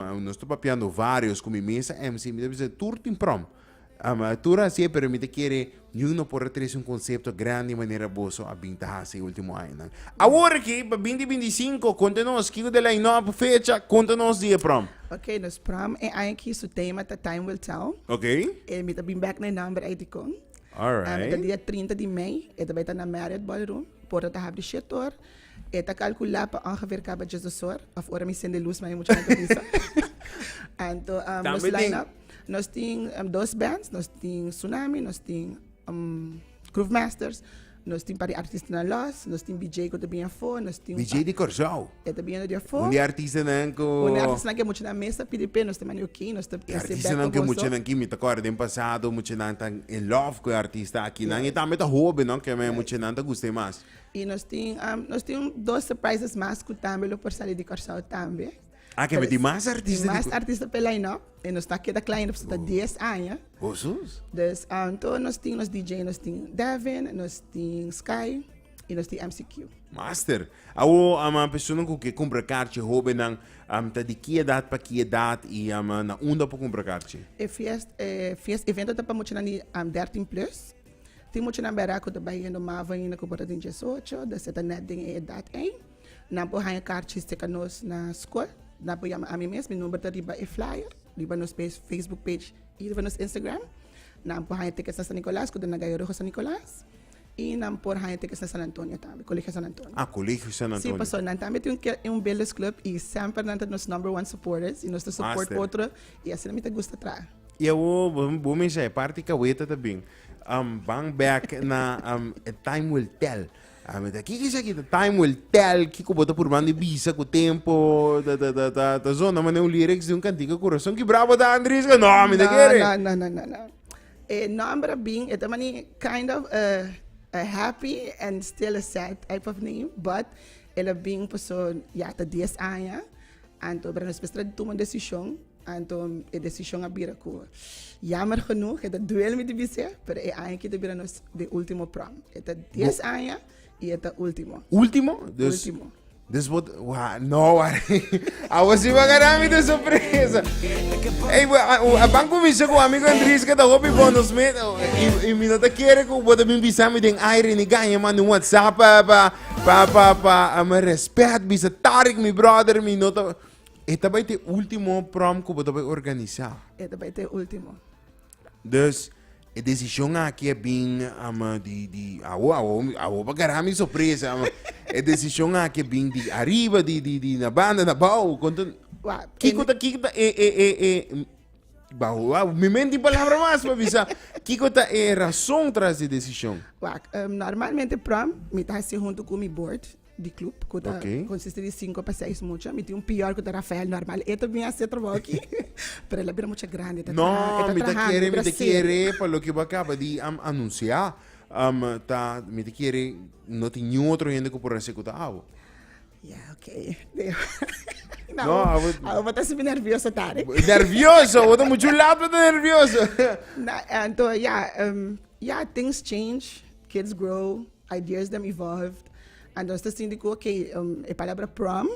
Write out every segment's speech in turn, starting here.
Ma nos ta papiando varios cu mi mesa MC, mi ta bisa tur tin prom. Um, tur hasié, pero mi ta kere niun no por a trece un concepto grandi manera boso a bin ta haci e ultimo añanan. Awor aki, pa binti binticinco, conta nos kico ta e line-up, fecha, conta nos di e prom. Ok, nos prom e aña aki su tema ta Time Will Tell. Ok. E mi ta bin bek na e nomber ei dicon. Um, e ta Alright. dia trinta di mei, e ta bay ta na Marriott Ballroom, porta ta habri shet or. E ta calcula pa ongeveer caba dies dos hor of ora mi sende luz maya mucha hende ta bisa. Anto um, nos Tambe tin- line-up, nos tin um, dos bands, nos tin Tsunami, nos tin um, Groove Masters, nos tin par di artista na los, nos tin BJ que te bien voor, nos tin BJ di Corzao. e te bien de voor. Un di artista nan ko... Una artista que mucha na mesa pidi pe nos te mani ok, nos te Di artista nan ke mucha nan kimi ta kor den pasado, mucha nan tan in love ko e artista aki nan. E tambe ta hobe, no? Ke men mucha nan ta guste mas. Y nos tin nos tin un dos surprises mas cu tambe lo por sali di Curaçao tambe. Ah, kemi tin mas artista di Tin mas Curaçao. artista pe line-up. Y nos ta keda cla hende pasobra ta dies aña. Oh, sus. Dus anto nos tin nos DJ, nos tin Devin, nos tin Sky y nos tin MCQ. Master. Awo am a personanan cu ke cumpra carchi, hobennan, am ta di ki edad pa ki edad y am na unda por cumpra carchi? E fiest, e fiest evento ta pa muchanan di um, dertin plus. Tin muchanan bera ku ta bai yendo mava ainda ku bo ta den diesocho, ta seta nèt den e edat ei. Nan por haña karchi seka nos na skol. Nan por yama ami mes, mi number ta riba e flyer, riba nos facebook page i riba nos Instagram. Nan por haña tickets na San Nikolaas ku ta na Gayo Rojo San Nikolaas. I nan por haña tickets na San Antonio tambe, Kolegio San Antonio. Ah, Kolegio San Antonio. Sí, paso nan tambe tin un kel, un Beles Club i semper nan ta nos number one supporters i nos ta support otro i asina mi ta gusta traha. Y awor bo, bo mensha e parti kaweta ta bin. Um, bang back na um, e time will tell. Ah, me ta, kiko is aki? The time will tell. Kiko bo ta purbando i bisa ku tempo. Ta, ta, ta, ta, ta zona mane un lyrics di un kantika kurason ki brabo ta Andries. No, me ta kere. No, no, no, no, no. E nomber a bin, e ta mani kind of a, a happy and still a sad type of name, but el a bin paso ya ta dies aña, anto bra nos pues tra di tuma un decision Anto e desishon a bira ku, yamer genoeg, e ta duel mi di bis'é, pero e aña aki ta bira nos de último prom. E ta dies aña i e ta último. Último? Dus, Último. dus bo, wa, no, wa. Awo si bo a gara mi den sorpresa. Ey, bo, a, a ban kuminsha ku amigo Andries ke ta hopi bon nos met. oh, I, i mi no ta kere ku bo ta bin bisa mi den aire ni gaña manda un WhatsApp pa, pa, pa, pa, pa, ah, mi respet bisa Tarik mi brother mi no ta. E ta bai te último prom ku bo ta bai organisá. E ta bai te último. Dus e desishon aki a bin um di di awo awo awo pa gará mi sorpresa um e desishon aki a bin di ariba di di di na banda na bou konto Wak, kiko ta kiko ta e e e e bou wa mi men tin palabra mas pa bisa kiko ta e rason tras di desishon. Wak, um, normalmente prom mi ta hasi huntu ku mi bord di club cu ta okay. consiste di cinco pa seis mucha mi tin un pior cu ta Rafael normal e ta bin a ser trabajo aquí pero la bira mucha grande ta no ta mi ta quiere mi ta quiere pa lo que va acaba di um, anunciar um, ta mi ta quiere no tin ni otro gente que por hacer cu ta abo ya yeah, okay No, no I would... I would be nervioso, Tarek. Nervioso? Wat moet je laat met nervioso? nou, en toen, ja, um, ja, things change, kids grow. Ideas dem evolved and nos ta sinti cu oke, e palabra prom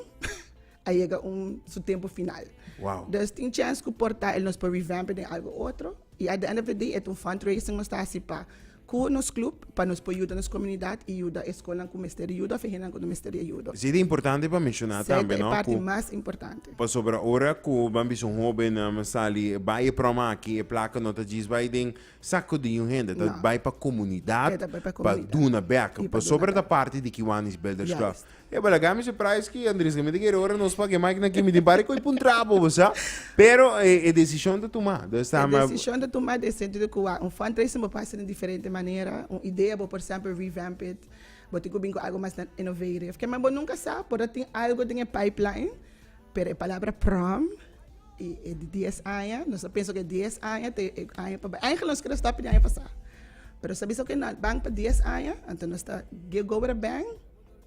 a yega un su tempo final. Wow. Dus tin chance cu por ta el nos por revamp e den algo otro. Y at the end of the day et un fundraising nos ta haci pa cu nos club pa nos por yuda nos comunidad y yuda e scolnan cu mester di yuda of e hendenan cu no mester di e yuda. Sí, ta importante pa menciona Sey tambe, ta e no? parti Cu mas importante. pasobra ora cu ban bisa un hobennan sali bai e prom aki, e placa no ta djis bai den Sa cu di un hende ta bay pa comunidad pa duna bek pasobra e ta parti di Kiwanis Builders Club. E bo la gana mi surprise ki Andres Gamido kere ora nos paga e mic na kimi tin party cu e pun trapo bo sa. Pero e decision ta tuma. E decision ta tuma den e sentido cu a un fundraising bo por haci di diferente manera, un idea bo por semper revamp it, bo tin cu bin cu algo mas innovative. Kema bo nunca sa por a tin algo den e pipeline. Pero e palabra prom i e di dies aña nos ta pensa ku e dies aña ta e aña pa bai aigentlik nos kere stòp di aña pasá pero nos ta bisa ku nan ban pa dies aña anto nos ta get go with a bang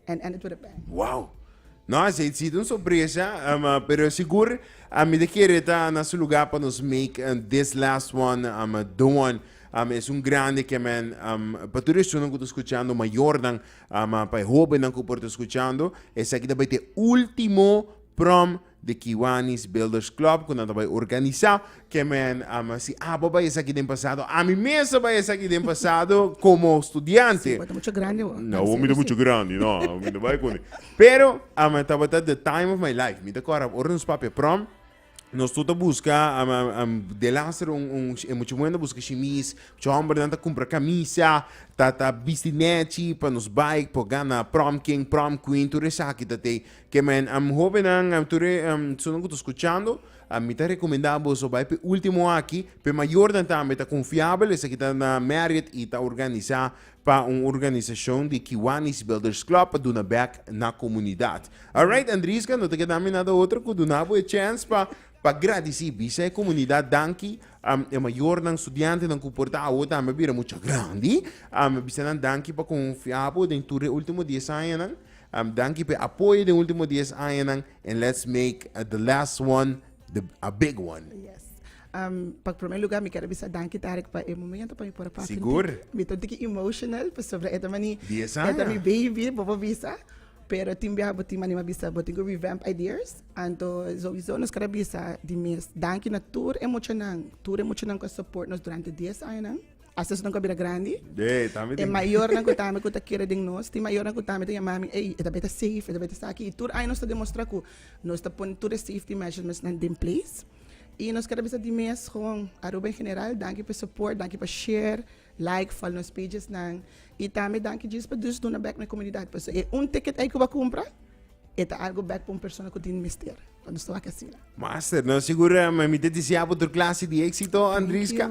and end it with a bang. Wow! No, a Seitzita un sorpresa, um, uh, pero sigur a mi te kere ta na su lugar pa nos make uh, this last one, um, uh, don one. Um, es un grande que men, um, pa tur esunan ku ta escuchando mayornan, Ama pa e hobennan ku por ta skuchando, esaki ta bai ta e último Prom di Kiwanis Builders Club ku nan ta bai organisá. Ke men ama si abo a bai esaki den pasado, ami mes a bai esaki den pasado komo studiante. Bo ta muchu grandi bo. No, mi ta muchu grandi, no, mi no bai kuné. Pero, ama, tabata the time of my life. Mi ta kòrda ora nos papia Prom. Nos tur ta buska am, am, am, de laster un, un, e mucha mujer ta buska shimis, mucha hombernan ta cumpra camisa, ta, ta bisti nechi pa nos bai por gana prom king, prom queen, tur esaki ta tei. Ke men, am, hobennan, am, tur e, am, sunan ku ta skuchando, am, mi ta rekomendá boso bai p'e último aki, p'e mayornan tambe ta konfiabel, esaki ta na Marriott i ta organisá pa un organisashon di Kiwanis Builders Club pa duna bek na komunidat. Alright Andriska, no ta keda mi nada otro ku duna bo e chèns pa pa gradisí, bisa e komunidat danki, e mayornan, studiantenan ku por ta awo tambe a bira mucha grandi. Bisa nan danki pa konfiá bo den tur e último dies añanan. Danki pa e apoyo den último dies añanan and let's make the last one a big one. Um, pa prome lugar mi kere bisa danki Tarek pa e momento pa mi por pa Sigur. Mi ta tiki emotional pa sobre eta mani. Bisa. Eta mi baby, bobo bisa. Pero tin bia bo tin mani ma bisa bo tin go revamp ideas. Anto sowieso nos kere bisa di mes danki na tur e muchanan, tur e muchanan ku a support nos durante dies añanan. Hasta esonan ku a bira grandi. De, tambe E tin. mayornan ku tambe ku ta kere den nos, tin mayornan ku tambe ta yama mi, ey, eta beta safe, eta beta esaki. I tur aña nos ta demostra ku nos ta pone tur e safety measurements nan den place. I nos keda bisa di mes gon Aruba en general danki pa e support danki pa share like fal nos pages nan i tambe danki djis pa djis duna bek na e comunidad paso e un ticket ey cu bo a cumpra e ta algo bek pa un persona cu tin mester nos ta wak asina. Master, nos seguro mi ta deseabo tur clase di exito Andriska.